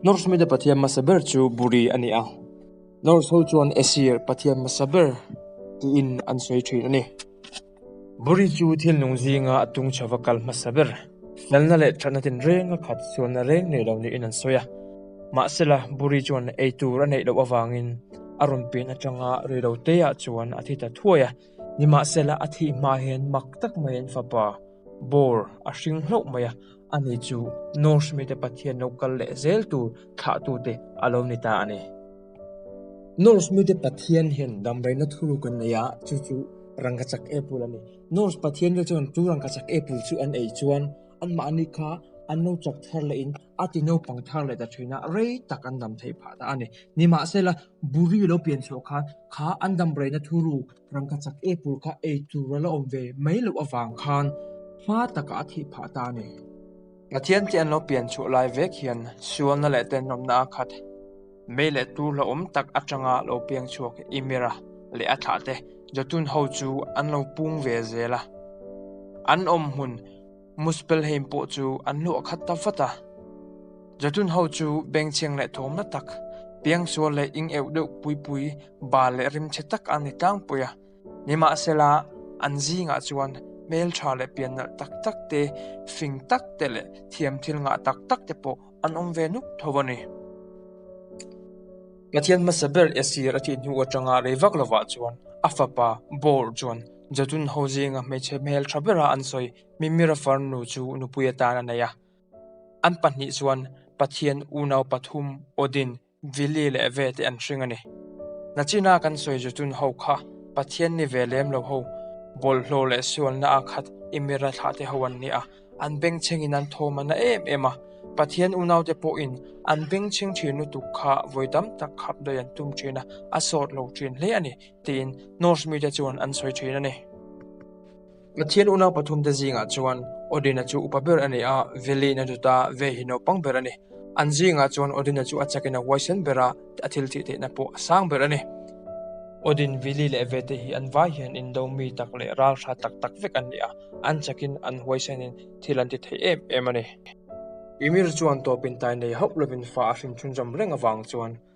Norse mite pathian hmasa ber chu Buri a ni a. Norse ho chuan Aesir pathian hmasa ber tiin an sawi thin a ni. Buri chu thil nung zinga a tung chho va kal hmasa ber, felna leh thatna tinrenga khat sualna reng nei lo niin an sawi a. Mahsela, Buri chuan ei tur a neih loh avangin a rawn pin atanga reiloteah chuan a thi ta thuai a. Nimahsela a thih hma hian mak tak mai an fapa bawr a hring hlauh mai a, a ni chu Norse mite pathian lo kal leh zel tur thlah tu te a lo ni ta a ni. Norse mite pathian hian damdaihna thuruk an nei a, chu chu rangkachak epul a ni. Norse pathian te chuan chu rangkachak epul chu an ei chuan an mahni kha an lo chak thar lehin a ti naupang thar leh ta thina rei tak an dam thei phah ta a ni. Nimahsela. Buri lo pian chhuah khan kha an damraihna thu ru rangka chak e pur kha ei tur ala awm ve mai loh avang khan hma taka a thih phah ta a ni. Pathian te an lo pian chhuah lai vek hian sualna leh tenawmna a khat mai leh tur hlauhawm tak atanga lo piang chhuak i Mira leh a thlah te Jotun ho chu an lo pung ve zel a, an awm hmun, Muspelheim pawh chu an hlawh khat ta vat a. Jatun ho chu bengchhiang leh thawmna tak, piangsual leh ing euh deuh puipui, bal leh rimchhe tak an ni tlangpui a. Nimahsela, an zingah chuan hmeltha leh piannalh tak tak te, fing tak te leh thiam thil ngah tak tak te pawh an awm ve nuk tho a ni. Pathian hmasa ber Esir a tih hnu atanga rei vak lovah chuan a fapa Bor chuan, Jatun ho zinga hmeichhe hmel tha bera an sawi. Mimir a far nu chu nupui atan a nei a. An pahnih chuan Pathian unau pathum Odin, Vili leh Ve te an hring a ni. Nachina kan sawi Jatun ho kha Pathian ni ve lem lo ho, bawlhhlawh leh sualna a khat Imira thlah te ho an ni a. An bengchhengin an thawm a na em em a. Pathian unau te pawhin an bengchheng thin lutuk kha vawi tam tak khap daih an tum thin a, a sawt lo thin hle a ni. tiin Norse mite chuan an sawi thin a ni. Pathian unau pathumte zingah chuan Odin-a chu upa ber a ni a, Veli na duta ve hi naupang ber a ni. An zingah chuan Odin-a chu a chakin a huaisen ber a, a thil thih theihna pawh a sang ber a ni. Odin, Veli leh Vete hi an vai hian Indomi tak leh ralhra tak tak vek an ni a, an chakin an huaisenin thil an ti thei em em a ni. Ymir chuan tawpin tai nei hauh lovin fa a hrimchhun zawm reng avang chuan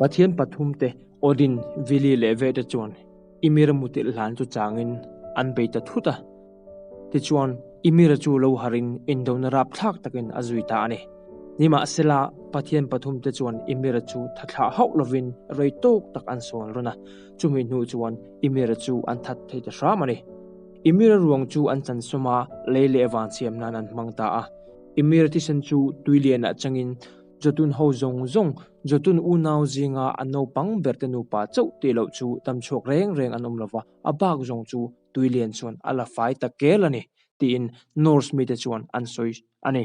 Pathian pathumte, Odin, Vili leh Ve te chuan Ymir mutilh hlan chu changin an bei ta thut a. Tichuan, Ymir-a chu lo harhin indona rap thlak takin a zui ta a ni. Nimahsela, Pathian pathumte chuan Ymir-a chu thathlah hauh lovin rei tawk tak an sawn run a. Chumi hnu chuan Ymir-a chu an that thei ta hram a ni. Ymir-a ruang chu an chansawma lei leh vang siam nan an hmang ta a. Ymir thisen chu tui lianah changin, Jotun ho zawng zawng, Jotun unau zinga an naupang berte nupa chauh teh loh chu tam chhuak reng reng an awm lo va, a bak zawng chu Tuilian chuan a la fai ta kel a ni, tiin Norse mite chuan an sawi a ni.